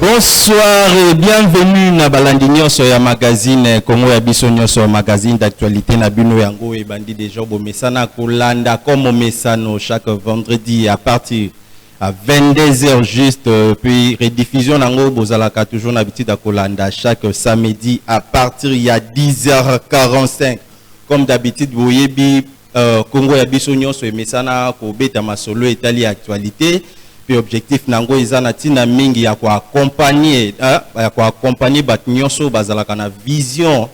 Bonsoir et bienvenue na balandi nyonso ya magazine Congo ya biso nyonso magazine d'actualité na bino yango ebandi déjà bomesana kolanda comme omesano chaque vendredi à partir à 22h juste euh, puis rediffusion nango bozalaka toujours na bitida kolanda chaque samedi à partir ya 10h45 comme d'habitude boyebi Euh, Congo ya biso nyonso emesana kobeta masolo etali actualité mpe objectif na yango eza na ntina mingi ya koakompagne euh, ya koakompagne bato nyonso bazalaka na vision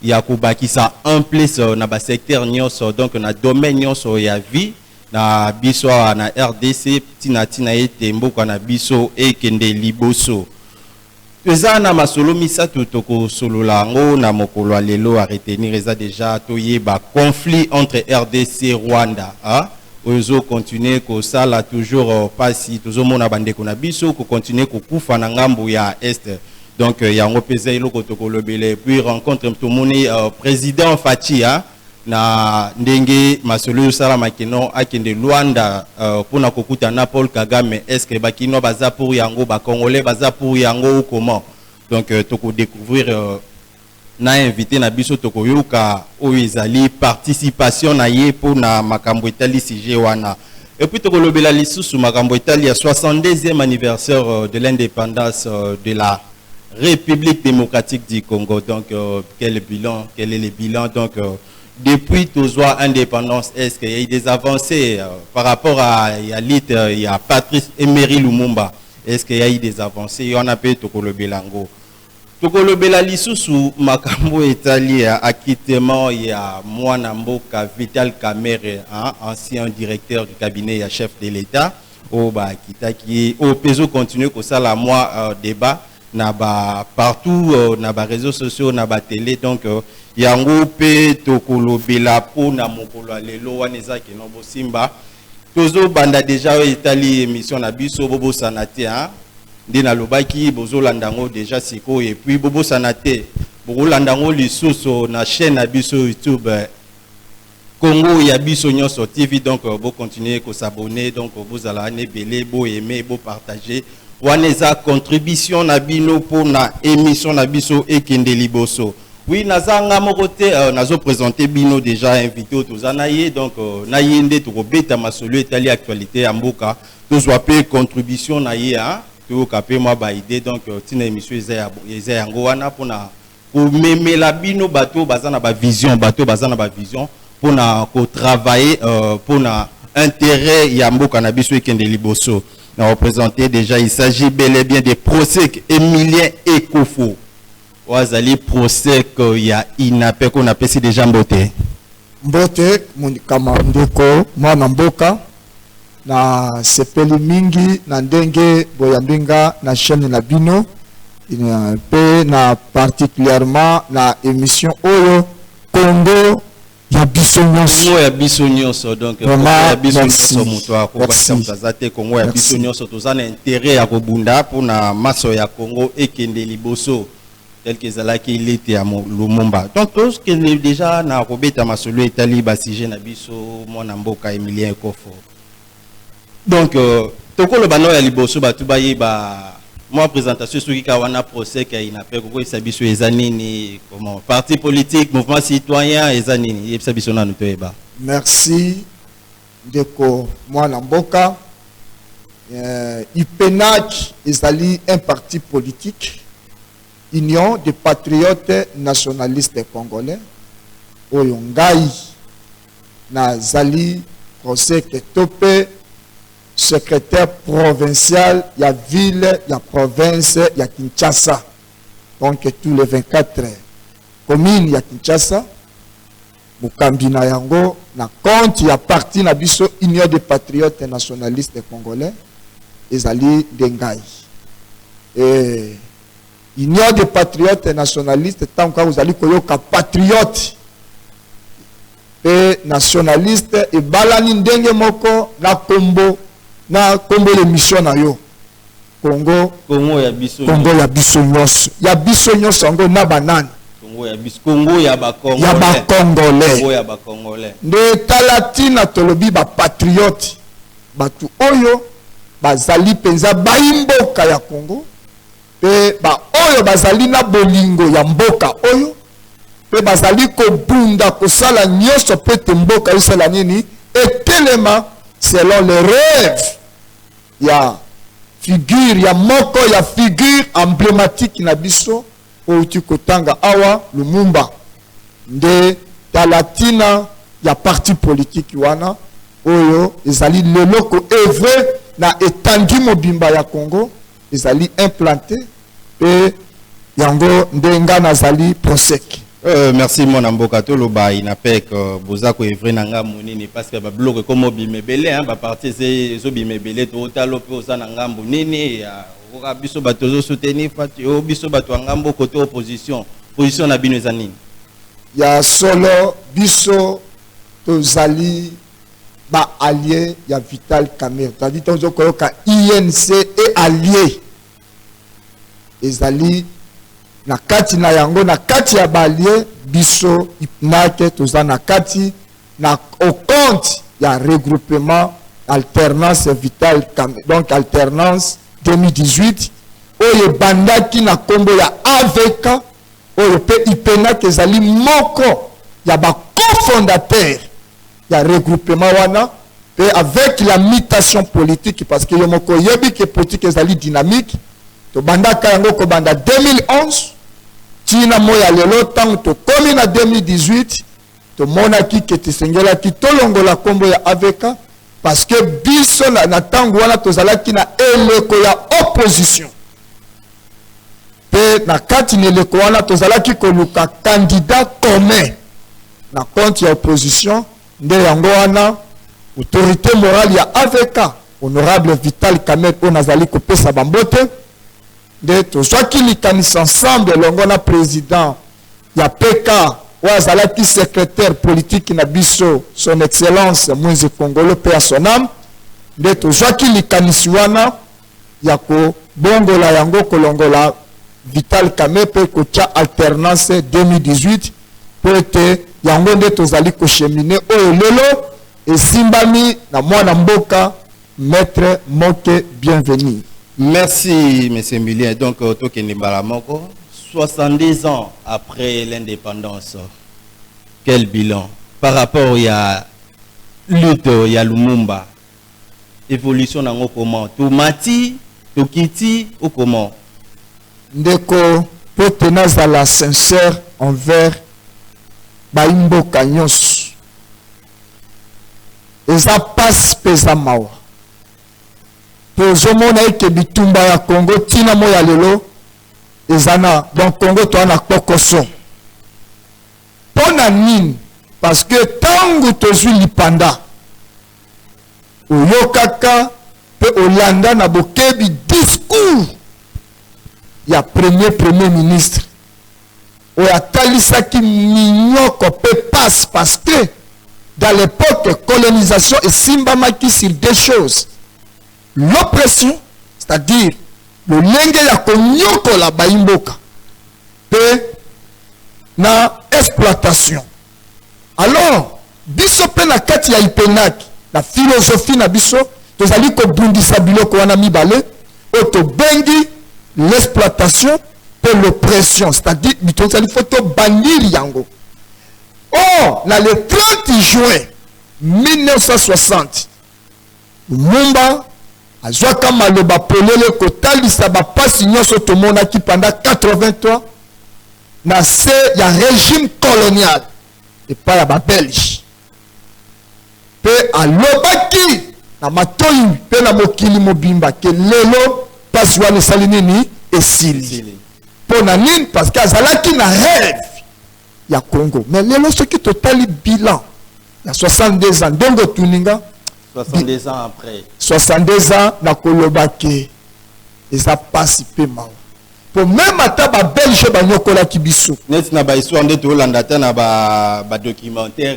ya kobakisa en plus euh, na basecteur nyonso donc na domaine nyonso ya vie na biso awa na rdc ntina ntina ete mboka na biso ekende liboso Toza na masolo misatu toko solola yango na mokolo ya lelo a retenir eza dejà to yeba conflit entre rdc Rwanda a oyo ezo continuer ko sala toujours pasi tozo mona ba ndeko na biso ko continuer ko kufa na ngambo ya Est donc yango pe eza eloko toko lobela et puis rencontre to moni President Fatshi a na ndenge masolo ezo salama que non akende Luanda euh, pona kokuta na Paul Kagame est-ce que ba kinois baza pour yango ba congolais baza pour yango ou comment donc euh, toko découvrir euh, na invité na biso tokoyoka oyo ezali participation na ye mpo na makambo etali sujet wana epuis tokolobela lisusu makambo etali ya 62e anniversaire euh, de l'indépendance euh, de la Republique democratique du Congo donc euh, quel bilan quel est le bilan donc euh, depuis tozwa indépendance est-ce qu'il y a eu des avancées euh, par rapport à ya lutte euh, ya Patrice Emery Lumumba est-ce qu'il y a eu des avancées wana mpe tokolobela yango tokolobela lisusu makambo etali ya acquittement ya mwana mboka Vital Kamerhe hein, ancien directeur du cabinet ya chef de l'État oyo ba kitaki ye oyo pe ezo continuer ko sala mua debat na ba partout na ba reseaux sociaux na ba tele donc yango pe toko lobela po na mokolo ya lelo wana eza ke non bo simba tozo banda deja oyo etali emission na biso bo bosana te hein nde na lobaki bozo landa ngo deja sikoyo et puis bo bosana te boko landa ngo lisusu na chaine na biso YouTube Congo ya biso nionso TV donc bo continuer ko s'abonner donc bozala wana ebele bo aimer bo partager wana eza contribution na bino pona emission na biso ekende liboso. Oui naza nga moko te euh, nazo presenter bino déjà invité toza na ye donc euh, na ye nde tokobeta masolo etali actualité ya mboka tozwa pe contribution na ye hein toyoka pe mwa ba idée donc euh, tina émission eza ya eza yango wana pona ko memela bino bato oyo baza na ba vision bato oyo baza na ba vision pona ko travailler pona interet ya mboka na biso ekende liboso na representer dejà il s'agit bel et bien de prosek emilien ekofo oyo azali prosek ya inapec oyo napesi dejà mbote. Mbote mokama ndeko mwana mboka. Na sepeli mingi na ndenge boyambi nga na chaine na bino pe na particulièrement na emission oyo Congo ya biso nionso. Congo ya biso nionso donc Congo ya biso nionso mutu akobakisa mutu aza te Congo ya biso nionso toza na interet ya kobunda pona maso ya Congo ekende liboso. tel que ezalaki lite ya lumumba donc tokende déjà na kobeta masolo etali basujet na biso mwana mboka emilien ekofo donc euh, tokoloba nao ya liboso bato bayeba mwa présentation soki kaka wana procès ya inapec okoyebisa biso eza nini comment parti politique mouvement citoyen eza nini yebisa biso nanu toyeba merci Ndeko mwana mboka, eh, UPENAC ezali un parti politique, Union des patriotes nationalistes congolais, oyo ngai nazali Koseke Tope, secrétaire provincial ya ville ya province ya Kinshasa, donc tous les 24 communes ya Kinshasa. Mokambi na yango na compte ya parti na biso Union des patriotes nationalistes congolais ezali nde ngai. Ee, Union des patriotes nationalistes, ntango kaka ozali koyoka patriote mpe nationaliste ebalani ndenge moko na kombo na kombo ya emission na yo. Congo Congo ya biso Congo ya biso nyonso ya biso nyonso yango na banani Congo ya biso Congo ya ba Congolais ya ba Congolais Congo ya ba Congolais nde tala tina tolobi ba patriote batu oyo bazali penza bayi mboka ya Congo pe ba oyo bazali na bolingo ya mboka oyo pe bazali kobunda kosala nyonso pete mboka esala nini etelema selon le rêve ya figure ya moko ya figure emblematiki na biso outi kotanga awa lumumba nde tala ntina ya parti politiki wana oyo ezali lelo koevre na etandi mobimba ya congo ezali implante Pe yango nde nga nazali prosec. Euh, merci mwana mboka toloba inapec euh, boza koevre na ngambo nini parce que babiloko ekoma obima ebele baparti ezobima ebele tootalo mpe oza na ngambo nini okoka biso bato ozosoutenir fati o biso bato ya ngambo kote opposition position na bino eza nini ya solo biso tozali baallie ya vital camere tozali tozokoyoka inc e allie ezali na kati na yango na kati ya balie biso ipnake toza na kati na au compte ya regroupement alternance vitale donc alternance 2018 oyo ebandaki na nkombo ya avk oyo mpe ipenake ezali moko ya bacofondateur ya regroupement wana pe avec la mutation politique parce que yo moko oyebi ke politique ezali dynamique tobandaka yango kobanda 2011 tina moya lelo ntango tokomi na 2018 tomonaki ke tisengelaki tolongola nkombo ya avk parce que biso na ntango wana tozalaki na eleko ya opposition Mpe na kati na eleko wana tozalaki koluka candidat commun na compte ya opposition, nde yango wana autorite morale ya avk honorable Vital Kamerhe oyo nazali kopesa bambote, nde tozwaki likanisi ensemble elongo na president ya PK oyo azalaki secretaire politique na biso son excellence Mwenze Kongolo mpe ya son ame, nde tozwaki likanisi wana ya kobongola yango, kolongola Vital Kamerhe, kotya alternance 2018, mpo ete yango nde tozali kochemine oyo lelo esimbami na mwana mboka Maitre Moke Bienvenu. Merci Monsieur Milien, donc euh, tokende mbala moko 70 ans après l'indépendance, quel bilan par rapport ya lutte ya Lumumba evolution na ngo comment to mati to kiti ou comment ndeko po te nazala sincère envers bayi mboka nyonso eza pasi mpe eza mawa tozomona eke bitumba ya congo ntina mo ya lelo eza na donc congo toa na kpokoso mpo na nini parce que ntango tozwi lipanda oyokaka mpe olanda na bokebi discours ya premier premier ministre oyo atalisaki minyoko mpe passe parce que dans l'époque colonisation esimbamaki sur deux choses l'oppression c'est-à-dire lolenge ya konyokola baimboka mpe na exploitation Alors, biso pe na kati ya IPENAC, na philosophie na biso, tozali kobundisa biloko wana mibale oyo tobengi l'exploitation pe l'oppression, c'est-à-dire tozali faut tobanir yango. Or, na le 30 juin 1960, Lumumba azwaka maloba polele kotalisa bapasi nyonso tomonaki panda 83 na se ya regime colonial epai ya babelge mpe alobaki na matoi mpe na mokili mobimba ke lelo mpasi wana esali nini esili mpo na nini parce que azalaki na rêve ya congo mais lelo soki totali bilan ya 62 ans ndenge otuni nga 62 ans après 62 ans nakoloba ke eza pasi mpe mawa mpo meme ata babelge banyokolaki biso neti na bahistoire nde toolanda ata na badocumentaire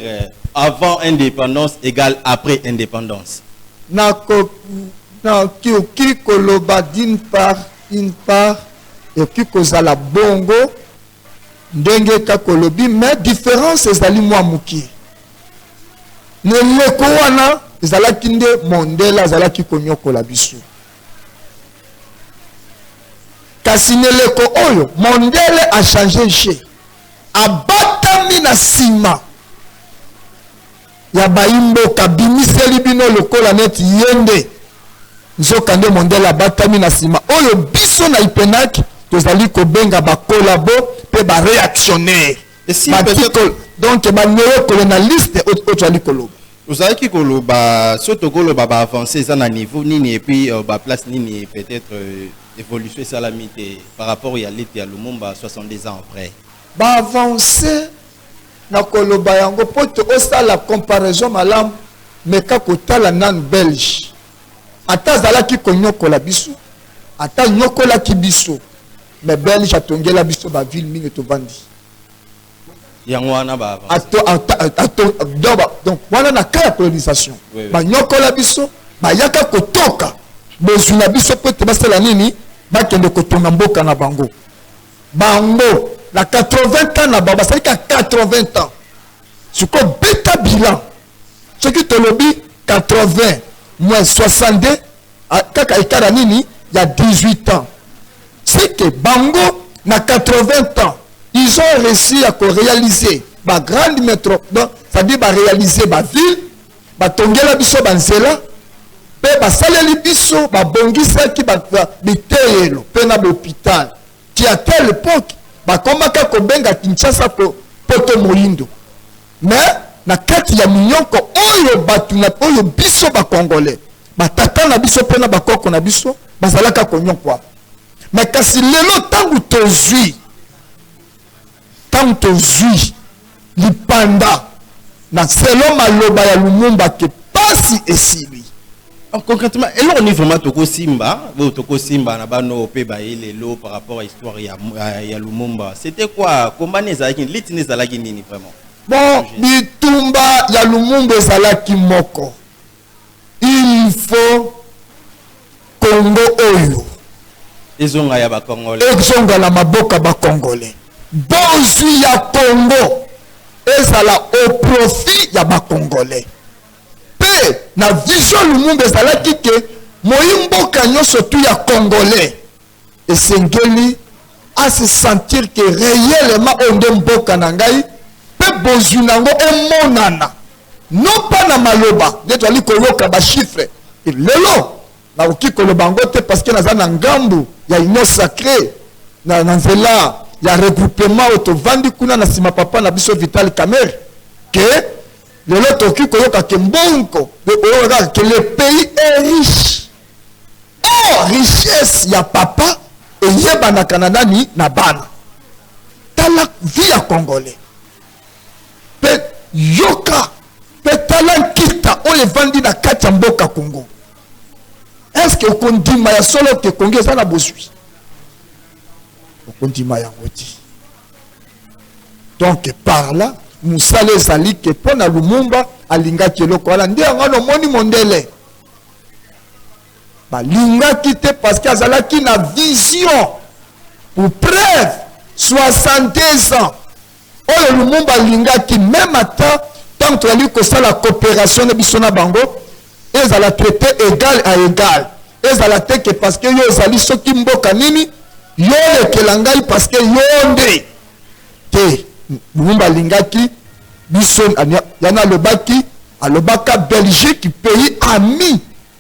ba euh, avant indépendance égale après indépendance nakoki koloba d'une part une part ekoki kozala bongo ndenge kaka olobi me difference ezali mwa mokie na eleko wana ezalaki nde mondele azalaki konyokola biso kasi na eleko oyo mondele achange je abatami na nsima ya bayi mboka bimiseli bino lokola neti ye nde nzoka nde mondele abatami na nsima oyo biso na ipenac tozali kobenga bakolabo mpe bareactionnaire donc baneokolo na liste oyo tozali koloba ozalaki koloba so tokoloba baavance eza na niveau nini epuis euh, baplace nini peut-être euh, évolution esalami te par rapport ya lete ya lumumba 62 ans après baavance Na koloba yango po to osala comparaison malamu meka kotala nanu belge ata azalaki koniokola biso ata aniokolaki biso mais belge atongela biso ba ville mingi tovandi yango wana ba donc wana na cas ya colonisation oui, oui. baniokola biso bayaka kotoka bozwi na biso po ete basala nini bakende kotonga mboka na bango Bango na 80 ans na bango basali ka 80 ans sikoyo beta bilan soki tolobi 80 moins 62 ah, kaka ekara nini ya 18 ans seke bango na 80 ans ils ont réussi à réaliser ba grande métropole c'est-à-dire ba réaliser ba ville Batongela biso banzela mpe basaleli biso, babongisaki biteyelo mpe na bopital ti a telle epoque bakomaka kobenga Kinshasa poto moyindo. Mais na kati ya minyoko oyo batu na oyo biso ba congolais ba tata na biso mpe na bakoko na biso bazalaka konyokwama. Mais kasi lelo ntango tozwi Ntango tozwi lipanda na selon maloba ya Lumumba que pasi esili. Donc concretement, eloko nini vraiment tokosimba, oyo tokosimba na bano mpe baye lelo par rapport à histoire ya, ya Lumumba? C'était quoi? Combat nini ezalaki nini? Lutte nini ezalaki nini vraiment? Bon, bitumba ya Lumumba ezalaki moko. Il faut Congo oyo. Ezonga ya ba Congolais. Ezonga na maboka ba Congolais. Bozwi ya Congo ezala au profit ya ba Congolais. Pe na vision Lumumba ezalaki ke moyi mboka nyoso tu ya Congolais. esengeli a se sentir que réellement oyo nde mboka na ngai mpe bozwi na yango emonana non pas na maloba nde tozali koyoka bachiffre lelo nakoki koloba yango te parce que naza na ngambu ya union sacré na, na nzela ya regroupement oyo tovandi kuna na nsima papa na biso vital kamer ke lelo tokoki koyoka ke mbongo oyo kaka ke le pays est riche Or richesse ya papa eyebanaka na nani? Na bana. Tala vie ya congolais pe yoka pe tala nkita oyo evandi na kati ya mboka Congo. Est-ce que okondima ya solo ke Congo eza na bozwi? Okondima yango te. Donc par là mosala ezali ke mpo na Lumumba alingaki eloko wana nde yango wana omoni mondele balingaki te parce que azalaki na vision pour preuve 62 ans oyo lumumba alingaki meme ata ntango tozali kosala coopération na biso na bango ezala traité égal à égal ezala te ke parce que yo ozali soki mboka nini yo olekela ngai parce que yo nde te lumumba alingaki biso yana alobaki alobaka belgique pays ami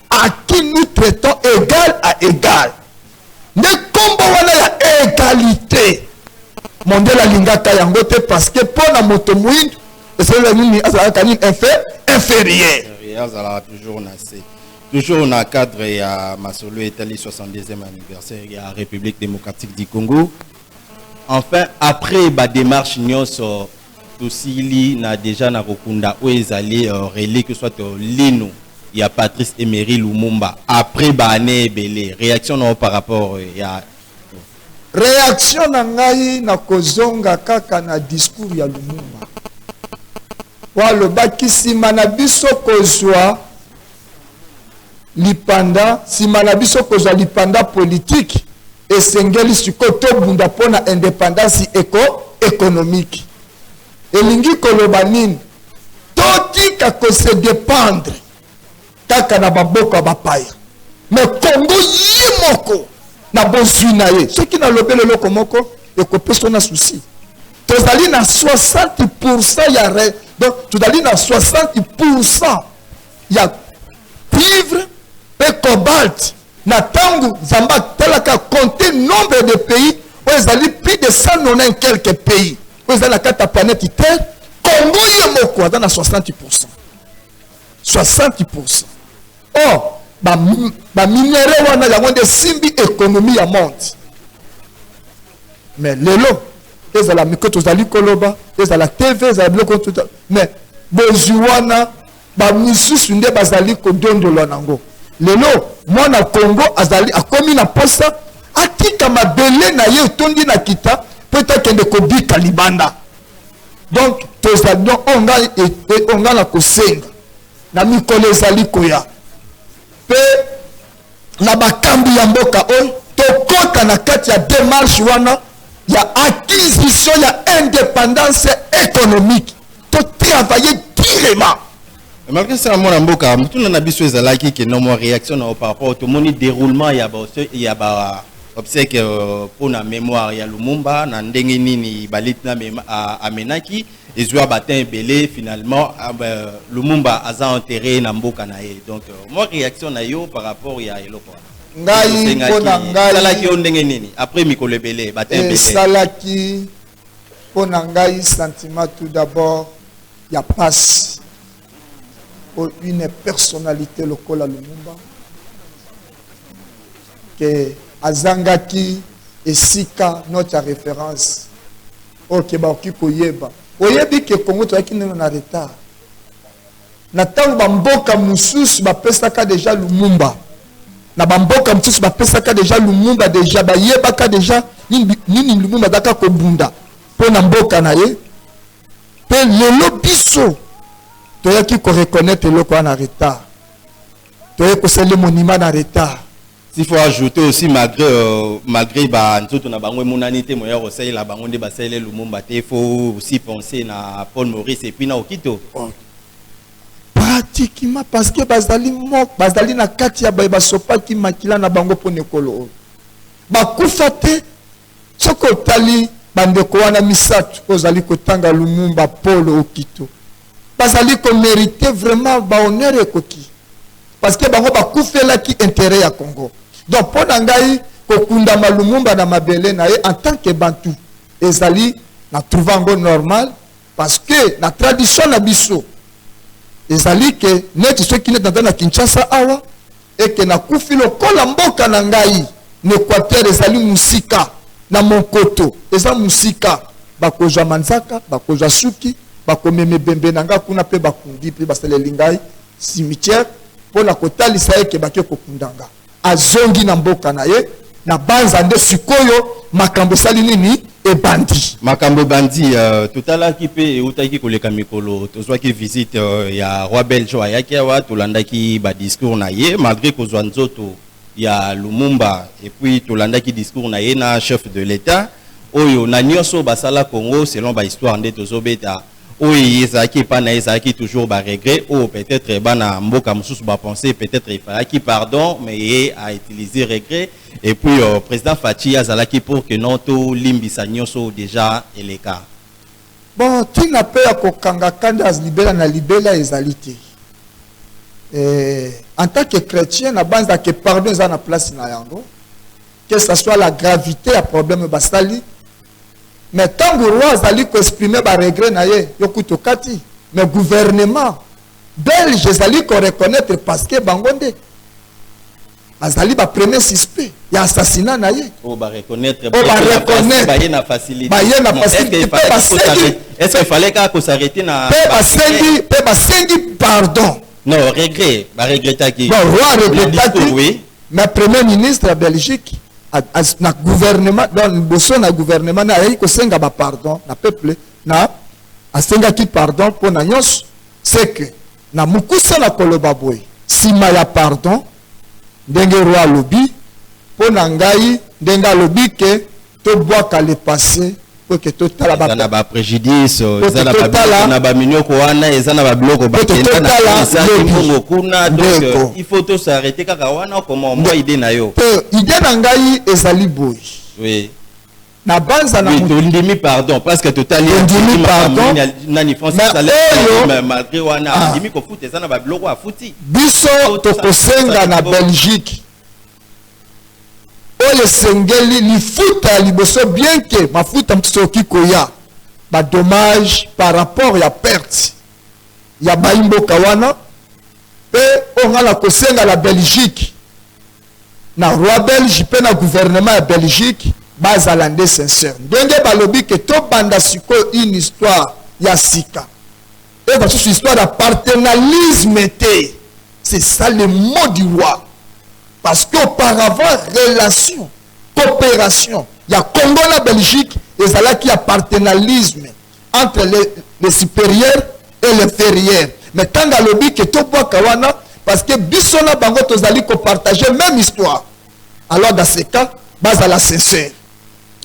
à qui nous traitons égal à égal nde nkombo wana ya égalité mondele alingaka yango te parce que mpo na moto moindo esalaka nini azalaka nini inférieur azalaka toujours na se toujours na cadre ya masolo etali 62e anniversaire ya république démocratique du congo Enfin après ba demarche nionso tosili na deja na kokunda oyo ezali uh, relique soit uh, lino ya Patrice Emery Lumumba après ba année ebele réaction na par rapport euh, ya réaction na ngai na kozonga kaka na discours ya Lumumba walobaki nsima na biso kozwa lipanda. Nsima na biso kozwa lipanda politiki, esengeli sikoyo tobunda mpo na independansi eko ekonomiki. Elingi koloba nini? Totika kose dependre kaka na maboko ya bapaya, me Kongo ye moko na bozwi na ye. Soki nalobeli eloko moko ekopesa na susi, tozali na 60 pourcent ya re, donc tozali na 60 pourcent ya cuivre pe cobalt na tango nzambe atalaka compte nombre de pays oyo ezali plus de 190 quelques pays oyo ezali na kati ya planète terre congo ye moko aza na 60 pourcent 60 pourcent or baminere wana yango nde esimbi ekonomi ya monde mais lelo ezala mike tozali koloba ezala tv ezala biloko mais bozwi wana bamisusu nde bazali kodondolwa nango lelo mwana kongo azali akomi na posa atika mabele na ye etondi na kita mpo ete akende kobika libanda donc tozali donc oyo ngai e, e, oyo ngai na kosenga na mikolo ezali koya mpe na bakambi ya mboka oyo tokota na kati ya demarche wana ya acquisition ya indépendance économique totravaille durement malgré ça mwana mboka motuna na biso ezalaki ke na mwa réaction na par rapport tomoni déroulement ya ba ya ba obsèque euh, mpo na mémoire ya lumumba na ndenge nini balit na amenaki ezua ba temps ebele finalement ah, euh, lumumba aza enterre na mboka na ye donc euh, moi réaction na yo par rapport ya eloko wana ngai mpo na ngai esalaki yo ndenge nini après mikolo ebele ba temps ebele esalaki mpo na ngai sentiment tout d'abord ya pasi mpo une personnalité lokola lumumba ke azangaki esika note ya référence Ok, bakoki koyeba. Oyebi que Congo toyaki neno na retard. Na tango ba mboka mususu bapesaka deja Lumumba. Na ba mboka mususu bapesaka deja Lumumba deja bayebaka deja nini, nini Lumumba azaka kobunda mpo na mboka na ye. Mpe lelo biso toyaki ko reconnaître eloko wana na retard. Toyaki kosala monument na retard. S'il faut ajouter aussi malgré euh, malgré ba nzoto na bango emonani te moya kosalela bango nde basalela Lumumba te faut aussi penser na Paul Maurice et puis na Okito oh. pratiquement parce que bazali moko bazali na kati ya baye basopaki makila na bango mpo na ekolo oyo bakufa te Soki otali bandeko wana misato ozali kotanga Lumumba, Paul, Okito, bazali komerite vraiment bahonneur ekoki parce que bango bakufelaki interet ya Congo. Donc mpo na ngai kokundama Lumumba na mabele na ye en tant que Bantu ezali na trouva yango normal Parce que na tradition na biso ezali ke neti soki neti naza na Kinshasa awa eke nakufi lokola mboka na ngai na Equateur ezali musika na Monkoto eza musika bakozwa manzaka bakozwa suki bakomema ebembe na ngai kuna mpe bakundi mpe basaleli ngai cimetière mpo na kotalisa eke bake kokunda ngai azongi na mboka na ye na banza nde sikoyo makambo esali nini ebandi makambo ebandi uh, totalaki mpe eutaki koleka mikolo tozwaki visite uh, ya roi belge oyo ayaki awa tolandaki badiscours na ye malgré kozwa nzoto ya lumumba epuis tolandaki discours na ye na chef de l'état oyo na nyonso basala congo selon bahistoire nde tozobeta oyo eye ezalaki epai na ye ezalaki toujours ba regret oyo peut-etre bana mboka mosusu ba pense peut-etre efalaki pardon mais ye a utilise regret et puis euh, président Fatshi azalaki pour que non tolimbisa nyonso déjà eleka bon ntina mpe ya kokanga kanda libela na libela ezali te eh, en tant que chrétien nabanzaka ke pardon eza na place na yango que ça soit la gravité ya problème basali mais ntango roi azali koexprime baregret na ye yo kutu okati mais gouvernement belge ezali koreconnaitre parce que bango nde bazali bapremier suspect ya assassinat na ye oyo bareconnaitre Oyo bareconnaitre. baye na facilité Baye na facilité, pe basengi- est ce que fallait kaka kosarrete na mpe basengi mpe basengi pardon non regret baregretaki Bon, roi aregretaki. oui na premier ministre ya belgique na gouvernement donc liboso na gouvernement na ayaki kosenga ba pardon na peuple na asengaki pardon mpo na nyonso c'est que na mokuse na koloba boye nsima ya pardon ndenge roi alobi mpo na ngai ndenge alobi ke tobwaka le passe mpo ete totala ba- eza na baprejudice Mpo eza na totala- babiloko na baminioko wana eza na babiloko bakenda na totala Kinshasa, lobi. Kimbongo kuna donc Ndeko. euh, il faut tosarete kaka wana okoma mwa ide na yo mpe ide na ngai ezali boye Oui. nabanza na Oui, moto tondimi pardon parce que totali Tondimi makambo pardon. nini- nani France Mais asala- oyo- ma- malgré wana Ah. andimi kofuta eza na babiloko afuti biso tokosenga na belgique oyo esengeli lifuta ya liboso bien ke mafuta mosusu ekoki koya badommage par rapport ya perte ya bayi mboka wana mpe oyo ngai na kosenga na belgique na roi belge mpe na gouvernement ya belgique bazala nde sincere ndenge balobi ke tobanda sikoyo une histoire ya sika oyo basusu histoire ya partenalisme te c'est ça le mot du roi parce que auparavant relation coopération ya congo na belgique ezalaki ya partenalisme entre les, les supérieurs et les inférieurs mais ntango alobi ke tobwaka wana parce que biso na bango tozali kopartage même histoire alors dans ces cas bazala sincère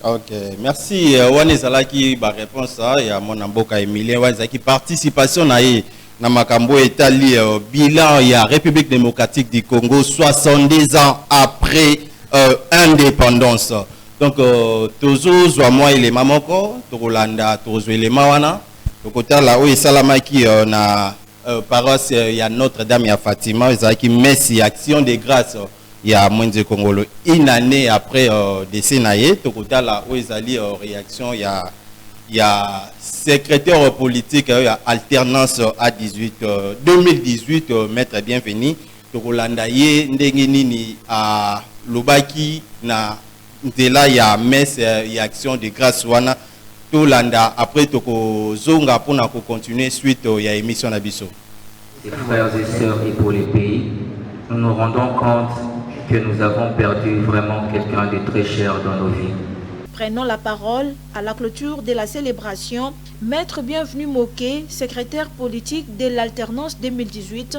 ok merci euh, wana ezalaki baréponse ah, ya mwana mboka emilien wana ezalaki participation na ye na makambo etali euh, bilan ya république démocratique du congo 62 ans après euh, indépendance donc tozozwa mwa elema moko tokolanda tokozwa elema wana tokotala oyo esalamaki na paroisse ya notre dame ya fatima ezalaki messe ya action de grâce ya Mwenze Kongolo une annee apres decès na ye. Tokotala oyo ezali reaction ya ya secretaire politique ya alternance a 18 2018 Maitre Bienvenu. Tokolanda ye ndenge nini alobaki na. nzela ya messe ya action de grace wana tolanda après tokozonga pona ko continuer suite ya emission na biso. Frères et sœurs et pour les pays, nous nous rendons compte que nous avons perdu vraiment quelqu'un de très cher dans nos vies. Prenant la parole à la clôture de la célébration, Maître Bienvenu Moke, secrétaire politique de l'alternance 2018,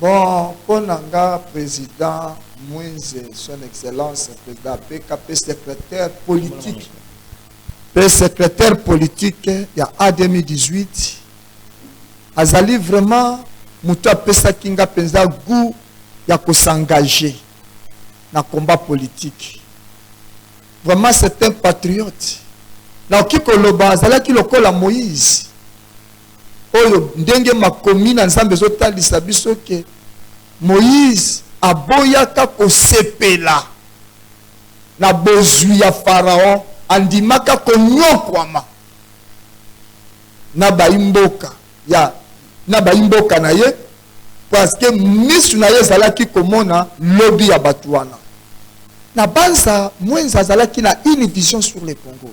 Bon po na nga president Moise son excellence president apeka pe secretaire politique pe secretaire politique ya a 2018 azali vraiment mutu apesaki nga penza gout ya ko s'engage na combat politique vraiment c'est un patriote nakoki koloba azalaki lokola Moise oyo ndenge makomi na nzambe ezotalisa biso ke moïse aboyaka kosepela na bozwi ya faraon andimaka konyokwama na baimboka ya na baimboka na ye parceke misu na ye ezalaki komona lobi ya bato wana na banza mwenza azalaki na une vision sur le congo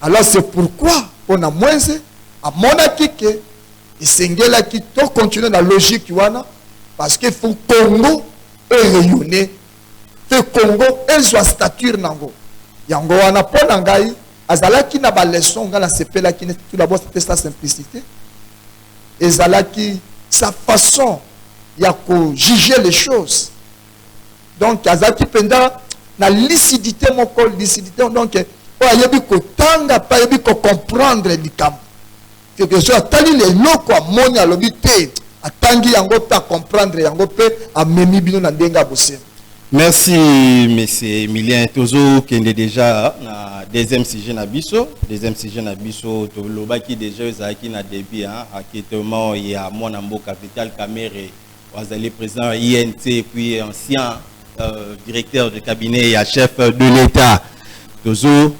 Alors c'est pourquoi pona mwenze amonaki ke esengelaki to continuer na logique wana parce que faut Congo e rayonner pe Congo ezwa stature nango yango wana pona ngai azalaki na ba leçon ngai nasepelaki neti tout d'abord c'était sa simplicité ezalaki sa façon ya ko juger les choses donc azalaki mpenza na lisidite moko lisidite donc oyo ayebi kotanga mpe ayebi kocomprendre likambo quelque chose atali leloko amoni alobi te atangi yango mpe acomprendre yango mpe amemi bino na ndenge ya bosembo merci monsieur emilien tozokende déjà na deuxième sujet na biso deuxième sujet na biso tolobaki déjà ezalaki na début hein, aketement ya mwana mboka vital kamere azali président ya inc puis ancien euh, directeur de cabinet ya chef de l'état tozo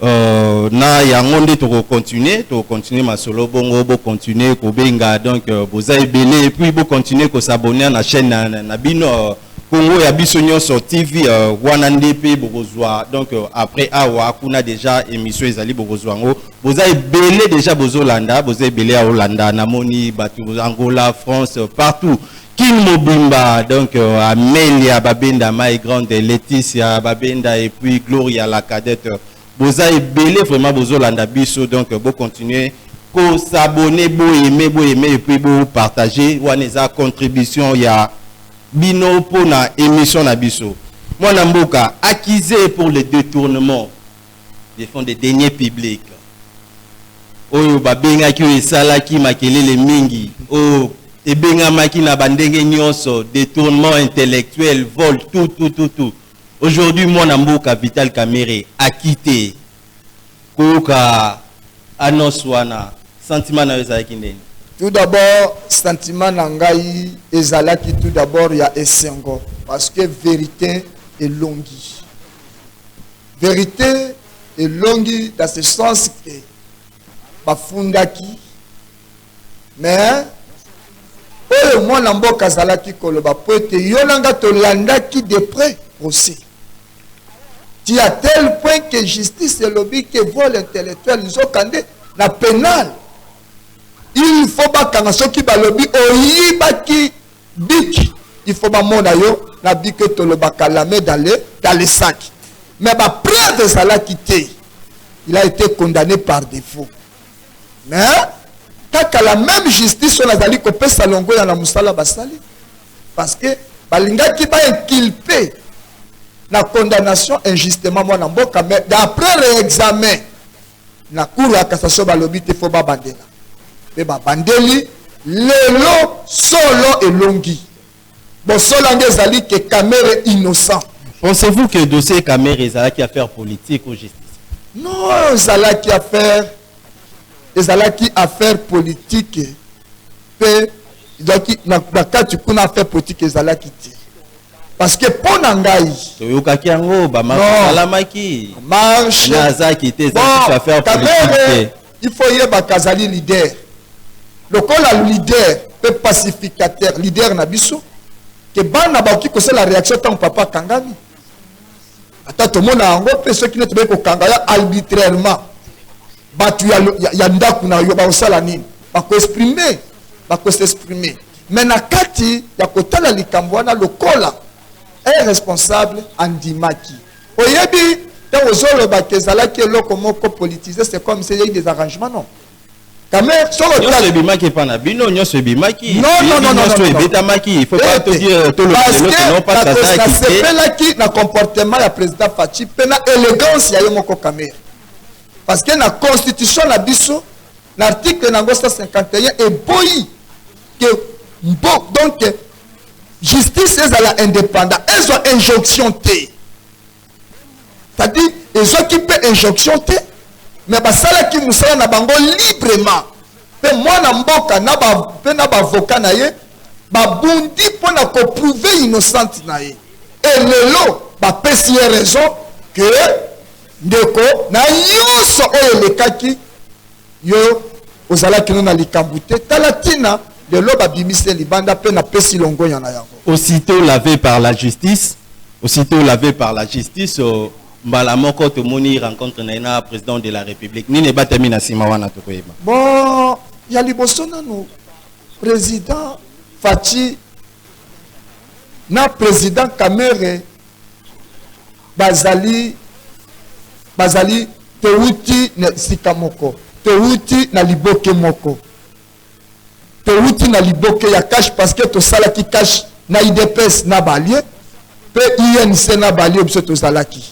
euh, na yango nde tokocontinue tokocontinue masolo bongo bocontinue kobenga donc euh, boza ebele epuis bocontinue kosabonne na chaîne na, na, na bino euh, congo ya biso nyonso tv euh, wana nde mpe bokozwa donc euh, après awa kuna déjà émission ezali bokozwa yango boza ebele deja bozolanda boza ebele ya olanda namoni bato angola france partout kin mobimba donc euh, amelia babenda mai grande leticia babenda et puis gloria la cadette boza ebele vraiment bozolanda biso donc euh, bocontinue kosabone boyeme boyeme et puis bopartage wana eza contribution ya bino mpo na émission na biso mwana mboka accusé pour le détournement de fonds de deniers publics oyo babengaki oyo esalaki makelele mingi oyo ebengamaki na bandenge nyonso détournement intellectuel vol tout tout tout tout aujourd'hui mwana mboka vital kamere akite koyoka annonce wana sentiment na yo ezalaki ndenge tout d'abord sentiment na ngai ezalaki tout d'abord ya esengo parce que vérité elongi verite elongi dans ce sens que bafundaki mais oyo mwana mboka azalaki koloba mpo ete yo na nga tolandaki de près procès ti à tel point que justice elobi ke vol intellectuel nzokande na penal il faut bakanga soki balobi oyibaki Bic il faut ba mona yo na bic et tolobaka la main dans le dans le sac mais ba preuve ezalaki te il a été condamné par défaut mais kaka la même justice oyo nazali kopesa longoya na mosala basali parce que balingaki bainculpe na condamnation injustement mwana mboka mais d'après réexamen na cour ya cassation balobi te fo babandela mpe babandeli lelo solo elongi bosolo yango ezali ke kamere innocent pensez-vous que dossier kamere ezalaki affaire politique ou justice non ezalaki affaire ezalaki affaire politique mpe ezalaki na kati kuna affaire politique ezalaki te parce que mpo na ngai toyokaki yango bamasalamaki marche azaki te ezaakamere il faut yebaka azali leader lokola leader mpe pacificateur leader na biso ke bana bakoki kosala réaction ntango papa akangami ata tomona yango mpe soki nde tobei kokanga ya arbitrairement bato ya, ya, ya ndako na yo bakosala nini bakoexprime bakoexprime me na kati ya kotala likambo wana lokola un responsable andimaki oyebi ntango ozolobaka ezalaki eloko moko politise c'est comme se yei des arrangements non nyonso ebimaki epai na bino nyonso ebimaki nyonso ebetamaki il faut pas todire tolobelelokopasasepelaki na comportement ya président faci mpe na élégance ya ye moko kamere parce que na constitution na biso na article nango 151 eboyi ke mpo donc justice ezala indépendant ezwa injonction te c'est-à-dire ezwaki mpe injonction te mais basalaki mosala na bango librement mpe mwana mboka na ba, mpe na bavoka na ye babundi mpo na koprouve innocente na ye e lelo bapesi ye raison que Ndeko, na nyonso oyo elekaki, yo ozalaki naino na likambo te. Tala ntina, lelo babimisi ye libanda mpe napesi longonya na yango. Aussitôt lavé par la justice, aussitôt lavé par la justice, euh, mbala moko tomoni rencontre na ye na president de la République. Nini ebatami na nsima wana tokoyeba. Bon, ya liboso nanu president Fatshi na president Kamerhe bazali bazali towuti na esika moko towuti na liboke moko towuti na liboke ya cash parce que tosalaki cash na idps na balie mpe inc na balie biso tozalaki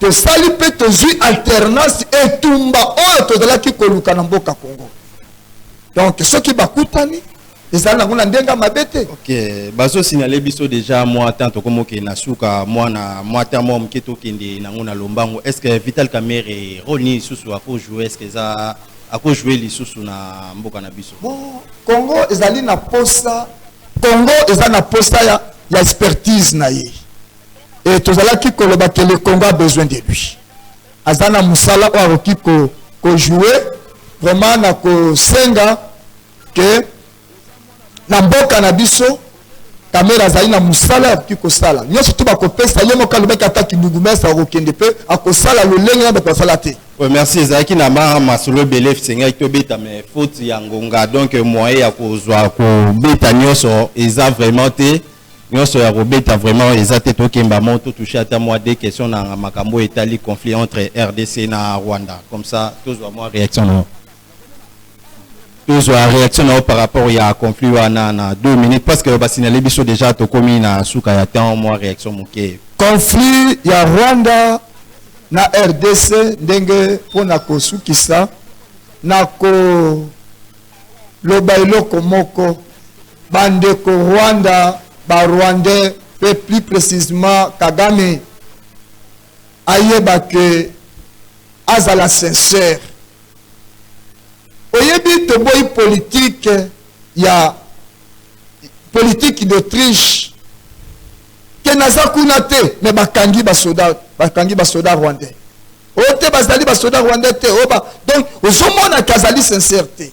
tosali mpe tozwi alternance etumba oyo tozalaki koluka na mboka congo donc soki bakutani ezali nango na ndenge ya mabe te ok bazosignale biso deja mwa temps tokomokende na suka mwana mwa temps mwa moke tokende nango na lombango est ce que vital kamere role nini lisusu akojoue est ce que eza akojoue lisusu na mboka na biso bon congo ezali na posa congo eza na posa ya, ya expertise na ye e tozalaki koloba ke le congo a besoin de lui aza na mosala oyo akoki kojoue ko vraiment na kosenga ke na mboka na biso kamera azali na mosala akoki kosala nyonso to bakopesa ye moko alobaki ata kindungumesi akokende mpe akosala lolenge na bato basala te Oui, merci ezalaki na ma masolo ebele esengaki tobeta mais faute ya ngonga donc moyen ya kozwa kobeta nyonso eza vraiment te nyonso ya kobeta vraiment eza te tokemba mo totouche ata mwa de question na makambo oyo etali conflit entre rdc na rwanda comme ça tozwa mwa réaction na yo tozwa reaction na yo par rapport ya conflit wana na 2 minutes parce que basignale biso déjà tokomi na suka ya temps mwa reaction moke conflit ya rwanda na rdc ndenge mpo na kosukisa na koloba eloko moko bandeko rwanda barwandais mpe plus précisement kagame ayeba que azala sincère oyebi toboyi politique ya politique d'autriche ke naza kuna te me bakangi basoda bakangi basoda rwandais oyo oh, te bazali basoda rwandais te oba oh, donc ozomonaka azali sincère te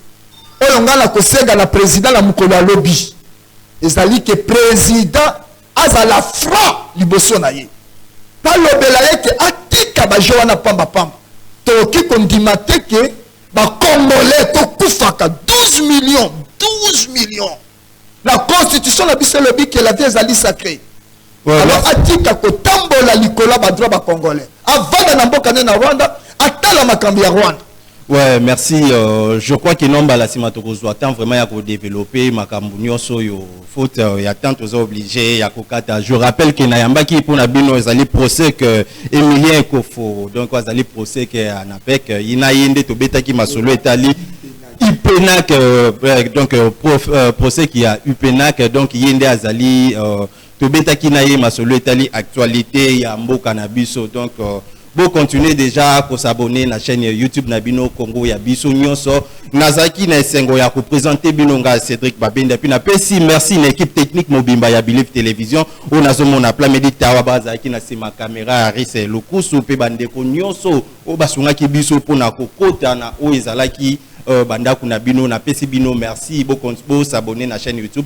oyo ngai nakosenga na président na mokolo ya lobi ezali ke président Azala franc liboso na ye. Balobela ye ke atika ba jeux wana pamba pamba. Tokoki kondima te ke ba congolais tokufaka 12 millions, 12 millions. La constitution na biso elobi ke la vie ezali sacree. Voilà. Alors atika kotambola likolo ya ba droit ba congolais. Avanda na mboka ne na Rwanda, atala makambo ya Rwanda. Ouais, merci. Euh, je crois que non, la sima toko zwa temps vraiment ya ko développer makambo nyoso yo faute euh, ya temps toza obligé ya ko kata. Je rappelle que na yambaki pona bino ezali procès que Emilien Kofo. Donc azali procès que Anapek euh, ina yende to betaki masolo etali Upenac euh, euh, donc euh, prof, euh, procès qui a Upenac donc yende azali euh, tobetaki na ye masolo etali actualite ya mboka na biso donc euh, bo continuer déjà ko s'abonner na chaîne ya YouTube na bino Congo ya biso nyonso nazalaki na esengo ya ko présenter bino nga Cédric Babenda puis na pesi merci na équipe technique mobimba ya Believe Télévision oyo nazomona Plamedi Tawa bazalaki na sima caméra ya Rise Lukusu pe bandeko nyonso oyo basungaki biso mpo na kokota na oyo ezalaki euh, bandako na bino napesi bino merci bo, bo s'abonner na chaîne YouTube